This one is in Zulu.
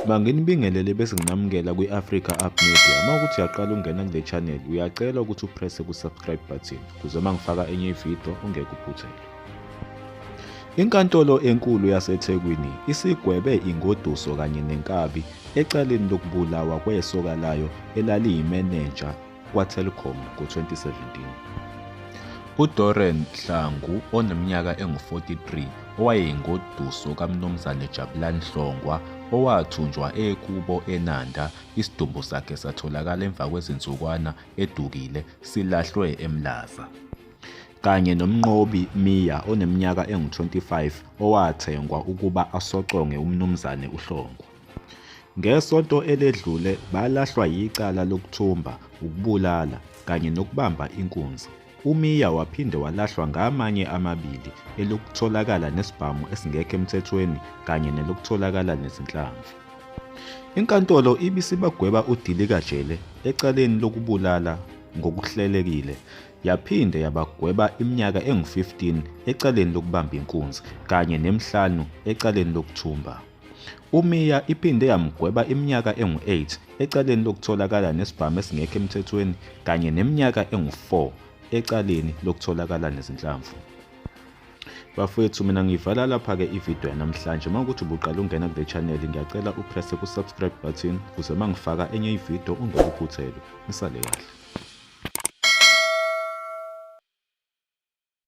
Manginibingelele bese nginamukela kwi-Africa Up Media. Uma ukuthi uyaqala ukungena kule channel, uyacela ukuthi upresse ku-subscribe button ukuze uma ngifaka enye ividiyo ungeke uphuthelwe. Inkantolo enkulu yaseThekwini isigwebe ingoduso kanye nenkabi ecaleni lokubulawa kwesoka layo elaliyimenenja kwaTelkom ngo-2017. UDorren Hlangu oneminyaka engu-43 owayengoduso kaMnumzane Jabulani Hlongwa owathunjwa ekubo eNanda, isidumbu sakhe satholakala emva kwezinsukwana edukile silahlwe eMlaza kanye noMnqobi Miya oneminyaka engu-25 owathengwa ukuba asocongwe uMnumzane uHlongwa. Ngesonto eledlule balahlwa yicala lokuthumba, ukubulala kanye nokubamba inkunzi. UMiya waphinde walahlwa ngamanye amabili elokutholakala nesibhamu esingekho emthethweni kanye nelokutholakala nezinhlamvu. Inkantolo ibisibagweba udilikajele ecaleni lokubulala ngokuhlelekile yaphinde yabagweba iminyaka engu-15 ecaleni lokubamba inkunzi kanye nemihlanu ecaleni lokuthumba. UMia iphinde yamgweba iminyaka engu-8 ecaleni lokutholakala nesibhamu esingekho emthethweni kanye neminyaka engu-4 ecaleni lokutholakala nezinhlamvu. Bafowethu mina ngivala lapha-ke ividiyo yanamhlanje uma ukuthi ubuqala ungena kule channel ngiyacela upresse ku-subscribe button ukuze uma ngifaka enye ividiyo ungakuphuthelwa. Nisale kahle.